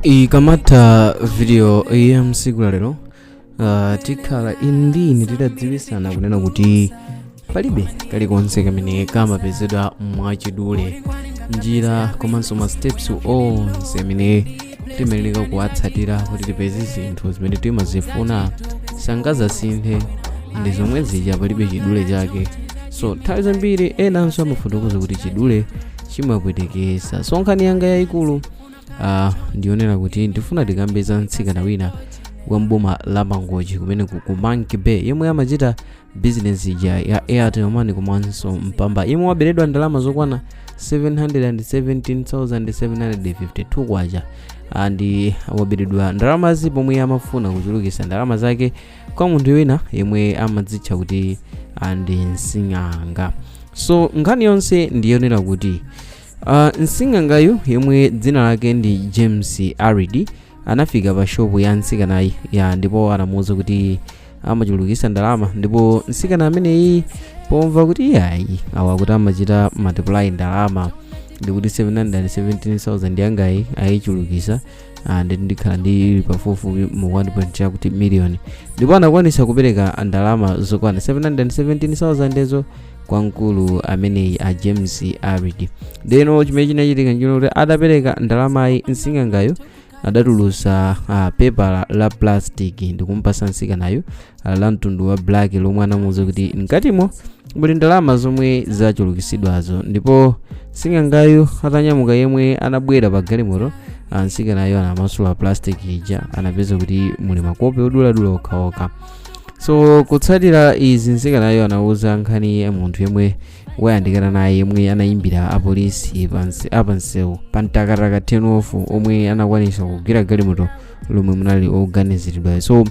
ikamatha video ya msiku la lero uh, tikhala inu ndi ine titadziwisana kunena kuti palibe kalikonse kamene kamapezedwa mwachidule njira komanso ma steps onse amene timayenera kuwatsatira kuti tipeze zinthu zimene timazifuna sangazasinthe ndi zomwe zija palibe chidule chake so nthawi zambiri enanso amafotokoza kuti chidule chimapwetekesa so nkhani yanga yayikulu uh, ndi yonena kuti ndifuna tikambe za mtsikana wina wa mboma la mangochi kumene ku ku monkey bay yemwe amachita bizinesi ija ya airtel money komanso mpamba yemwe waberedwa ndalama zokwana 717,752 kwacha and waberedwa ndalamazi pomwe amafuna kuchulukisa ndalama zake kwa munthu wina yemwe amadzitcha kuti ah, ndi msing'anga so nkhani yonse ndi yonena kuti ah, msing'angayu yemwe dzina lake ndi james alidi anafika pa shopu ya mtsikanayi ya ndipo anamuwuza kuti amachulukisa ndalama ndipo mtsikana ameneyi pomva kuti iyayi awa akuti amachita multiply ndalama ndikuti 717,000 yangayi ayichulukisa Ah, ndiye ndikhala ndi pafupifupi mu 1 point chakuti miliyoni ndipo anakwanisa kupereka ndalama zokwana 717,000 zo kwa mkulu ameneyi a james alidi ndeno chimene chinachitika nchonena kuti atapereka ndalamayi msing'angayo adatulusa ah, pepala la plastic ndikumpasa msikanayo ah, la mtundu wa black lomwe anamuuza kuti mkatimo muli ndalama zomwe zachulukitsidwazo ndipo sing'angayu atanyamuka yemwe anabwera pa galimoto ah, nsikanayo anamasula plastic ija anapeza kuti muli makope oduladula okhaokha so kutsatira izi nsikanayo anauza nkhaniyi munthu yemwe wayandikana naye yemwe anayimbira apolisi apansewu pa mtakataka turn off omwe anakwanisa kugwira galimoto lomwe munali oganiziridwayo so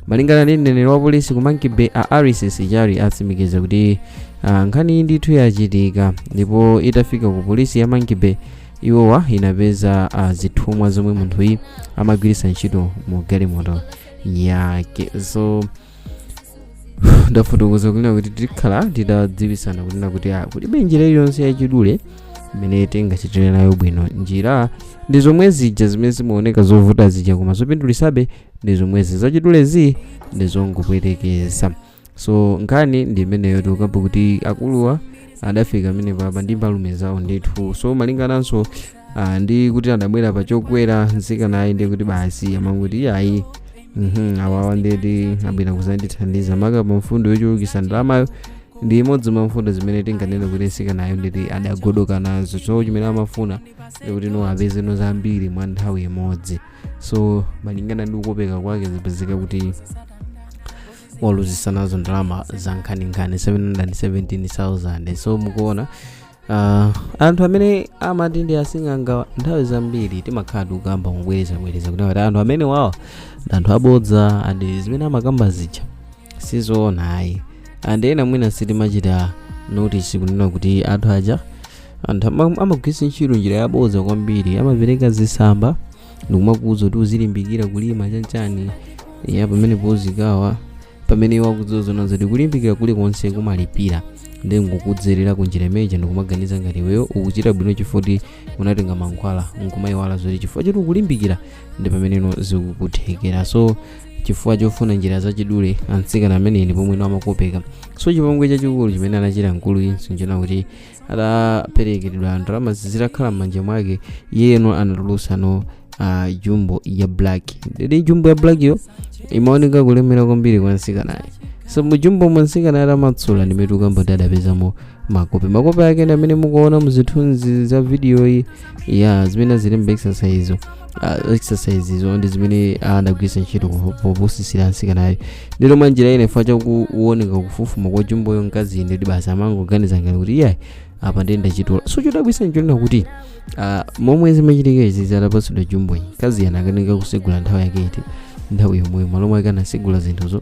malingana ndi mneneri wa polisi ku monkey bay a alice sichali atsimikiza kuti uh, nkhani iyi ndithu yachitika ndipo itafika ku polisi ya monkey bay iwowa inapeza uh, zithumwa zomwe munthuyi amagwiritsa ntchito mu galimoto yake so ndafotokoza kunena kuti tikhala titadziwisana kunena kuti ah, kulibe njira iliyonse yachidule imene tingachitire nayo bwino njira ndi zomwe zija zimene zimaoneka zovuta zija koma zopindulisabe ndi zomwezi zachidulezi ndi zongopwetekesa so nkhani ndi imeneyo tikukamba kuti akuluwa adafika pamenepapa ndi mbalume zawo ndithu so malingananso ah, ndi kuti adabwera pa chokwera mtsikanayi ndi kuti basi amangoti iyayi mhm, awawa nditi abwera kuzandithandiza maka pa mfundo yochulukisa ndalamayo ndi imodzi mwa mfundo zimene tinganene kuti mtsikanayo nditi adagodoka nazo so chimene amafuna ndikuti no apeze no zambiri mwa nthawi imodzi so malingana ndi kukopeka kwake zipezeka kuti waluzisa nazo ndalama za nkhaninkhani 717,000 so mukuona Ah, anthu amene amati ndi asing'anga nthawi zambiri timakhala tikukamba kubwerezabwereza kuti ngati anthu amene wawa ndi anthu abodza andi zimene amakamba zija sizoona ayi andi ena mwina sitimachita notice kunena kuti anthu aja anthu ama- amagwiritsa ntchito njira yabodza kwambiri amapereka zisamba ndikumakuuza kuti uzilimbikira kulima chanchani ya pamene podzikawa pamene iwo akudziwa zoona zoti kulimbikira kulikonse kumalipira ndi nkukudzerera ku njira imeneja ndikumaganiza ngati iweyo ukuchita bwino chifoti unatenga mankhwala nkumayiwala zoti chifukwa choti ukulimbikira ndi pameneno zikukuthekera so chifukwa chofuna njira zachidule mtsikana ameneyi ndi pomwe amakopeka so chipongwe chachikulu chimene anachita mkuluyinso nchona kuti adaperekedwa ndalama zitakhala m'manja mwake iyeno anatulutsa no uh, jumbo ya black ndi jumbo ya black yo imaoneka kulemera kwambiri kwa msikanayi so mujumbomo msikanayi atamasula ndi mmene tukukamba kuti adapezamo makope makope ake ndi amene mukuona muzithunzi za video iyi ya zimene zili m'ma exercise uh, exercise izo ndi zimene adagwiritsa ntchito ku- popusisira msikanayo ndiyeno mwa njira ina chifa chakuoneka kufufuma kwa jumboyo mkaziyi ndi kuti basi amangoganiza ngati kuti iyayi apa ndiye ndachitola so chodabwisa nchonena kuti ah, momwe zimachitika izi atapasidwa jumboyi mkaziyi anakanika kusegula nthawi yake iti nthawi yomweyo malo mwake anasegula zinthuzo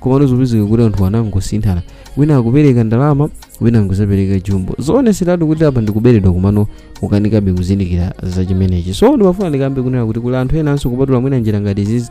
komano zipezeka kuti anthu anangosinthana wina akupereka ndalama wina angozapereka jumbo zooneseratu kuti apa ndikuberedwa komano nkukanikabe kuzindikira za chimenechi so ndimafuna ndikambe kunena kuti kuli anthu enanso kupatula mwina njira ngati izizi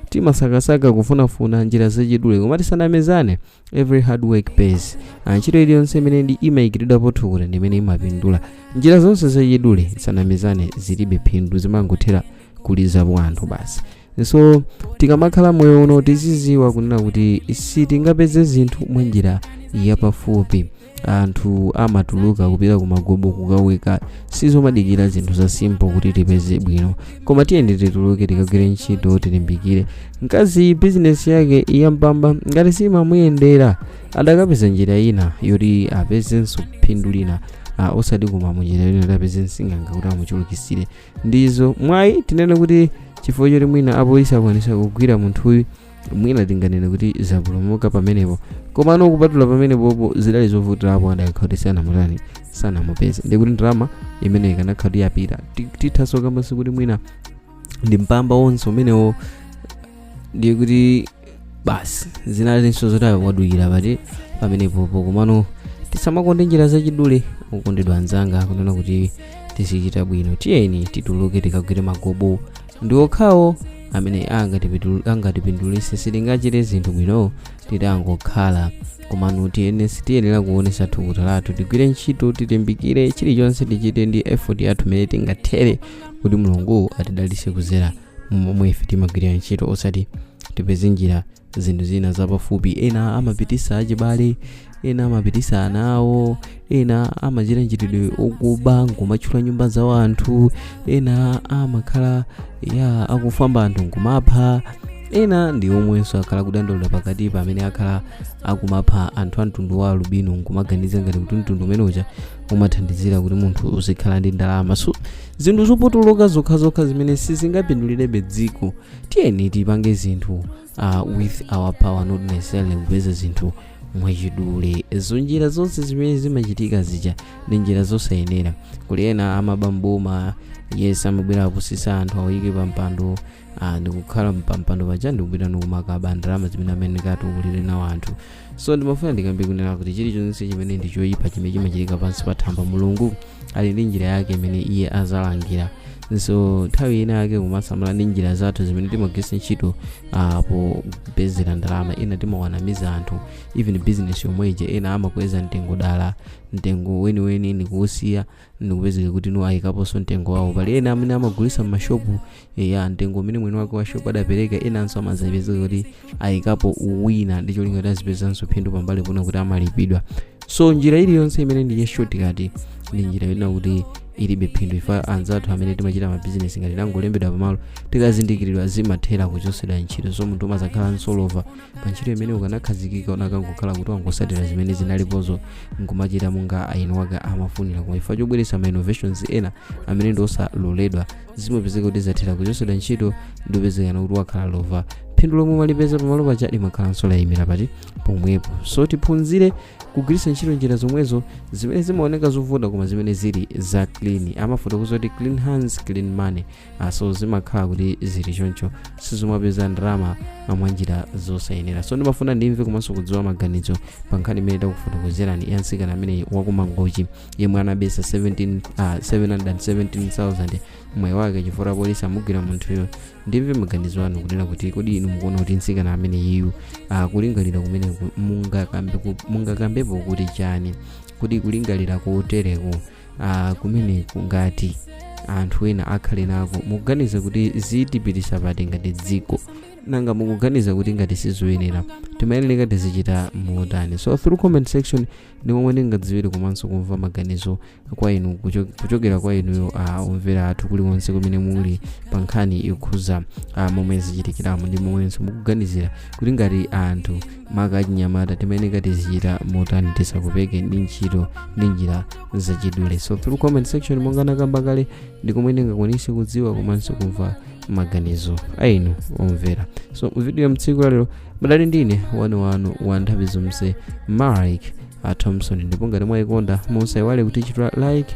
timasakasaka kufunafuna njira zachidule koma tisanamezane every hard work pays Ah, ntchito iliyonse imene imayikiridwapo thukuta ndi imene imapindula njira zonse zachidule tisanamezane zilibe phindu zimangothera kuliza po anthu basi so tikamakhala moyo uno tiziziwa kunena kuti sitingapeze zinthu mwa njira yapafupi anthu amatuluka kupita kumagobo kukaweka sizomadikira zinthu za simple kuti tipeze bwino koma tiyeni tituluke tikagwire ntchito tilimbikire mkazi bizinesi yake ya Mpamba ngati siimamuyendera adakapeza njira ina yoti apezenso phindu lina uh, osati kumene munjira yoti apeze sing'anga kuti amuchulukisire ndizo mwayi tinene kuti chifukwa choti mwina apolisi akwanisa kugwira munthuyu mwina tinganene kuti zapulumuka pamenepo komano kupatula pamenepopo zidali zovutirapo adakakhala kuti sanamutani sanamupeze ndikuti ndalama imene ikanakhala kuti yapita tithanso kukamba kuti mwina ndi mpamba wonse umenewo ndiye kuti basi zinalinso zoti waduwira pati pamenepopo komano tisamakonde njira zachidule okondedwa anzanga kunena kuti tizichita bwino tiyeni tituluke tikagwire magobo ndi okhawo amene angatipindulise sitingachite zinthu bwino titangokhala komano tiyenera kuonesa thukuta lathu tigwire ntchito tilimbikire chilichonse tichite ndi effort yathu imene tingathere kuti mulungu atidalise kuzera momwe ife timagwirira ntchito osati tipeze njira zinthu zina zapafupi ena amapitisa achibale ena amapitisa ana awo ena amachita mchitidwe okuba nkumathyola nyumba za anthu ena amakhala akufamba anthu nkumapha ena ndi omwenso akhala kudandaula pakati pamene akhala akumapha anthu a mtundu wa alubino nkumaganiza ngati kuti mtundu umene uja umathandizira kuti munthu uzikhala ndi ndalama so zinthu zopotoloka zokhazokha zimene sizingapindulirebe dziko tiyeni tipange zinthu uh, with our power not necessarily kupeza zinthu mwachidule so njira zonse zimene zimachitika zija ndi njira zosayenera kuli ena amaba mboma yes amabwera apusisa anthu awayike pa mpando ah, ndikukhala mpampando paja ndikupita ndikumakaba ndalama zimene amene ndikatukulire nawo anthu so ndimafuna ndikambe kunena kuti chilichonse chimene ndi choyipa chimene chimachitika pansi pa thambo mulungu ali ndi njira yake imene iye azalangira so nthawi ina yake kumasamala ndi njira zathu zimene timagwiritsa ntchito ah, popezera ndalama ena timawanamiza anthu even business yomweje ena amakweza mtengo dala mtengo weniweni ndikuwusiya ndikupezeka kuti iwo ayikaponso mtengo wawo pali ena amene amagulitsa m'mashopu ya mtengo umene mwini wake wa shopu adapereka enanso amazapezeka kuti ayikapo wina ndi cholinga kuti azipezanso phindu pambali pona kuti amalipidwa so njira iliyonse imene ndi ya shortcut ndi njira yonena kuti ilibe phindu ife anzathu amene timachita mabizinesi ngati tangolembedwa pamalo tikazindikiridwa zimathera kuchotsedwa ntchito so munthu umazakhalanso lova pa ntchito imene ukanakhazikika ukanangokhala kuti wangosatira zimene zinalipozo nkumachita monga eni wake amafunira koma chifukwa chobweretsa ma innovations ena amene ndi osaloledwa zimapezeka kuti zathera kuchotsedwa ntchito ndikupezekano kuti wakhala lova phindu lomwe umalipeza pamalo paja limakhalanso layimira pati pomwepo so tiphunzire kugwiritsa ntchito njira zomwezo zimene zimaoneka zovuta koma zimene zili za clean amafotokoza kuti clean hands clean money Ah, so zimakhala kuti zili choncho suzimapeza ndalama ah, mwa njira zosayenera so ndimafuna ndimve komanso kudziwa maganizo pa nkhani imene takufotokozerani ya mtsikana amene wakumangochi yemwe anabesa 17, ah, 717000 mwayi wake chifukwa apolisi amugwira munthuyo ndimve maganizo anu kunena kuti kodi inu mukuona kuti mtsikana ameneyiyu ah, kulingalira kumene ku- mungakambe ku- mungakambepo kuti chani kuti kulingalira kotereko ah, kumeneku ngati anthu ena akhale nako mukuganiza kuti zitipitisa pati ngati dziko nanga mukuganiza kuti ngati sizoyenera timayenera tizichita motani so through comment section ndi momwe ndingadziwire komanso kumva maganizo kwa inu kucho- kuchokera kwa inuyo ah, omvera athu kulikonse kumene muli pa nkhani yokhuza ah, momwe zachitikiramo ndi momwenso mukuganizira kuti ngati anthu maka achinyamata timayeneka tizichita motani tisakopeke ndi ntchito ndi njira zachidule so through comment section monga nakamba kale ndi komwe ndingakwanise kudziwa komanso kumva maganizo ainu omvera so mvidiyo mtsiku lalero munali ndi ine wanu wanu wa nthawi zonse mike a thompson ndipo ngati mwayikonda musaiwale kutichita like